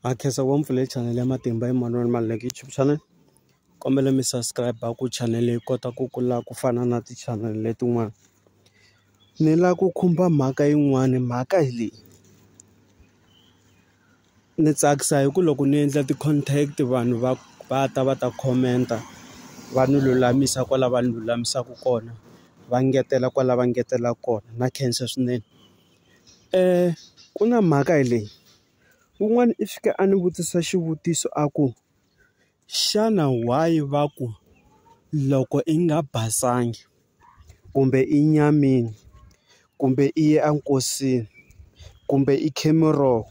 Ha khensa ku va mi pfulele chanele ya Matimba Emmanuel Maluleke YouTube channel. Kombela mi subscribe-a ku chanele yi kota ku kula ku fana na ti-channel-e letin'wana. Ni lava ku khumba mhaka yin'wani, mhaka hi leyi. Ni tsakisa hi ku loko ni endla ti-contact vanhu va va ta va ta comment-a, va ni lulamisa kwala va ni lulamisaka kona, va ngetela kwala va ngetelaka kona. Na khensa swinene. ku na mhaka leyi un'wana i fika a ni vutisa xivutiso a ku xana why va ku loko i nga basanga kumbe i nyamile kumbe i ye enkosini kumbe i khe miroho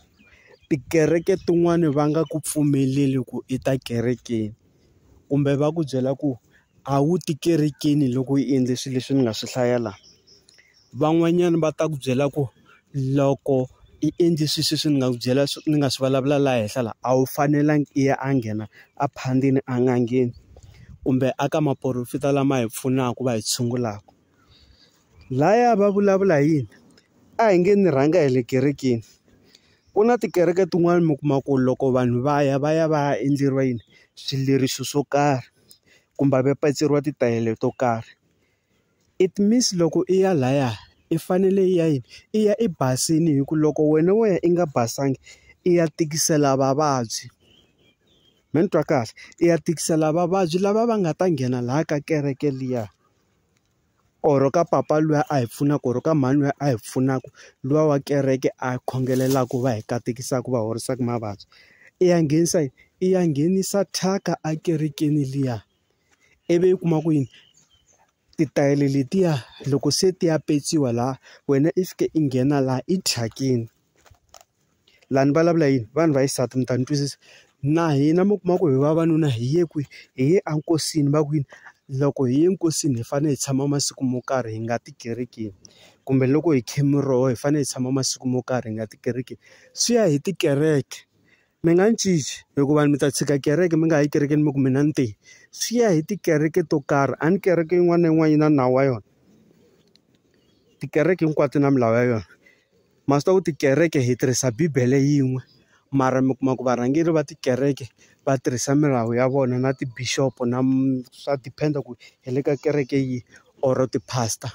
tikereke tin'wani va nga ku pfumeleli ku i ta kerekeni. kumbe va ku byela ku a wu ti kerekeni loko u endle swilo leswi ni nga swi hlaya la. Van'wanyana va ta ku byela ku loko i endle swilo sweswi ni nga ku byela ni nga swi vulavula laha henhla la a wu fanelanga i ya a nghena a phandeni en'angeni kumbe a ka maporofeta lama hi pfunaka va hi tshungulaka. Laya va vulavula hi yini a hi nge ni rhanga hi le kerekeni ku na tikereke tin'wani mi kuma ku loko vanhu va ya va ya va ya endleriwa yini swileriso swo karhi kumbe va paceriwa titayele to karhi it means loko i ya laya i fanele i ya yini i ya i basini hi ku loko wena wo ya i nga basanga i ya tikisela vavabyi me ni twa kahle i ya tikisela vavabyi lava va nga ta nghena laha ka kereke liya. or ka papa luya a hi pfunaka or ka mhani luya a hi pfunaka luya wa kereke a khongelelaku va hi katekisaka va horisaka mavabyi i ya nghenisa yini i ya nghenisa thyaka ekerekeni liya ivi u kuma ku yini titayele letiya loko se ti ya petsiwa laha wena i fika i nghena laha i thyakeni. laha ni vulavula yini vanhu va xisati mi ta ni twisisa na hina mi kuma ku hi vavanuna hi ye kwihi hi ye enkosini va ku yini loko hi ye nkosini hi fanele hi tshama masiku mo karhi hi nga ti kerekeni kumbe loko hi kha miroho hi fanele hi tshama masiku mo karhi hi nga ti kerekeni swi ya hi tikereke mi nga ni cinci hikuva mi ta tshika kereke mi nga ha yi ekerekeni mi ku mina ni te swi ya hi tikereke to karhi a ni kereke yin'wana na yin'wana yi na nawu wa yona tikereke hinkwato na milawu ya yona. ma swi tiva ku tikereke hi tirhisa bibele yin'we mara mi kuma ku varhangeri va tikereke va tirhisa milawu ya vona na ti bishop na swa depend ku hi le ka kereke yihi or ti pastor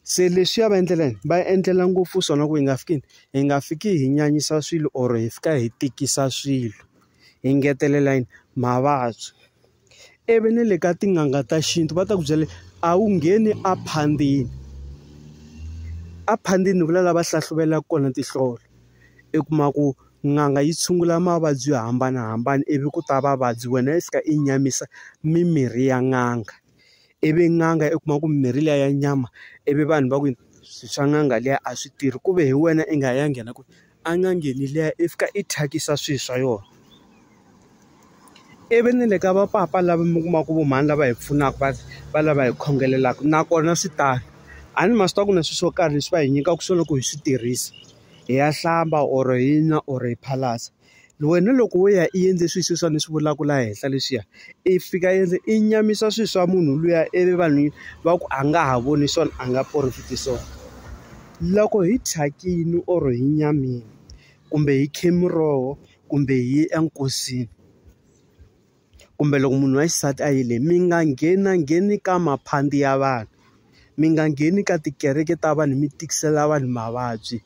se leswiya va endlela yini va endlela ngopfu swona ku hi nga fiki hi nga fiki hi nyanyisa swilo or hi fika hi tikisa swilo hi ngetelela yini mavabyi. ivi ni le ka tin'anga ta xintu va ta ku byela a wu ngheni a phandini a phandini vula lava hlahluvelaka kona tinhlolo i kuma ku n'anga yi tshungula mavabyi yo hambanahambana ivi ku ta vavabyi wena yi fika i nyamisa mimirhi ya n'anga ivi n'anga i kuma ku mimirhi liya ya nyama ivi vanhu va ku swa n'anga liya a swi tirhi ku ve hi wena i nga ya nghena ku. a nga ngheni liya i fika i thyakisa swilo swa yona ivi ni le ka va papa lava mi kuma ku vo mhani lava hi pfunaka va va lava hi khongelaka nakona swi tano a ni ma swi tiva ku na swilo swo karhi leswi va hi nyikaka swona loko hi swi tirhisa hi ya hlamba or hi nwa or hi phalaza. wena loko wo ya i endle swilo sweswiwani ni swi vulaka laha henhla leswiya, i fika i endle i nyamisa swilo swa munhu luya ivi vanhu va ku a nga ha voni swona a nga profit-i swona. Loko hi thyakile or hi nyamile kumbe hi khe miroho kumbe hi ye enkosini. kumbe loko munhu wa xisati a yile mi nga nghena ngheni ka maphandi ya vanhu mi nga ngheni ka tikereke ta vanhu mi tikisela vanhu mavabyi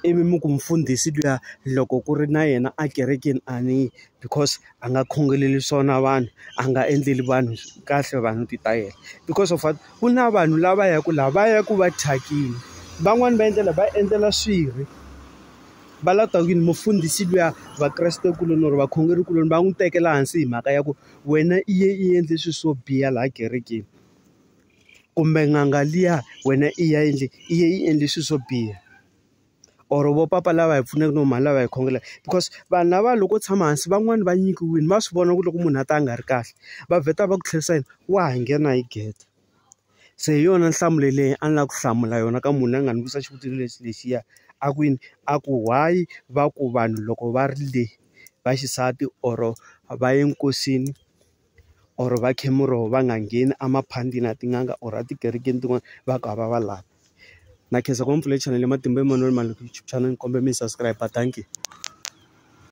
ivi mi ku mfundhisi luya loko ku ri na yena a kerekeni a ni because a nga khongeleli swona vanhu a nga endleli vanhu kahle vanhu ti ta yena because of what ku na vanhu lava ya ku lava ya ku va thyakile van'wani va endlela va endlela swirho. va la ta ku yini mufundhisi luya vakrestekuloni or vakhongerikuloni va n'wi tekela hansi hi mhaka ya ku wena i ye i endle swilo swo biha laha kerekeni kumbe n'anga liya wena i ya endle i ye i endle swilo swo biha or vo papa lava hi pfunaka no mhani lava hi khongelaka because vanhu lava loko tshama hansi van'wani va nyikiwile va swi vona ku loko munhu a ta a nga ri kahle va vheta va ku tlherisa yini wa ha nghena hi gede Se hi yona nhlamulo leyi a ni lava ku hlamula yona ka munhu a nga ni vutisa xivutiso lexi lexiya. A ku yini? A ku why va ku vanhu loko va ri le va xisati or-o va ye nkosini or-o va khe muroho va nga ngheni emaphandleni ya tin'anga or-o etikerekeni tin'wani va ku a va va lavi. Na khensa ku va ni pfulele chanele ya Matimba Emanuel Maloyi YouTube channel ni kombela mi yi subscribe-a. Dankie.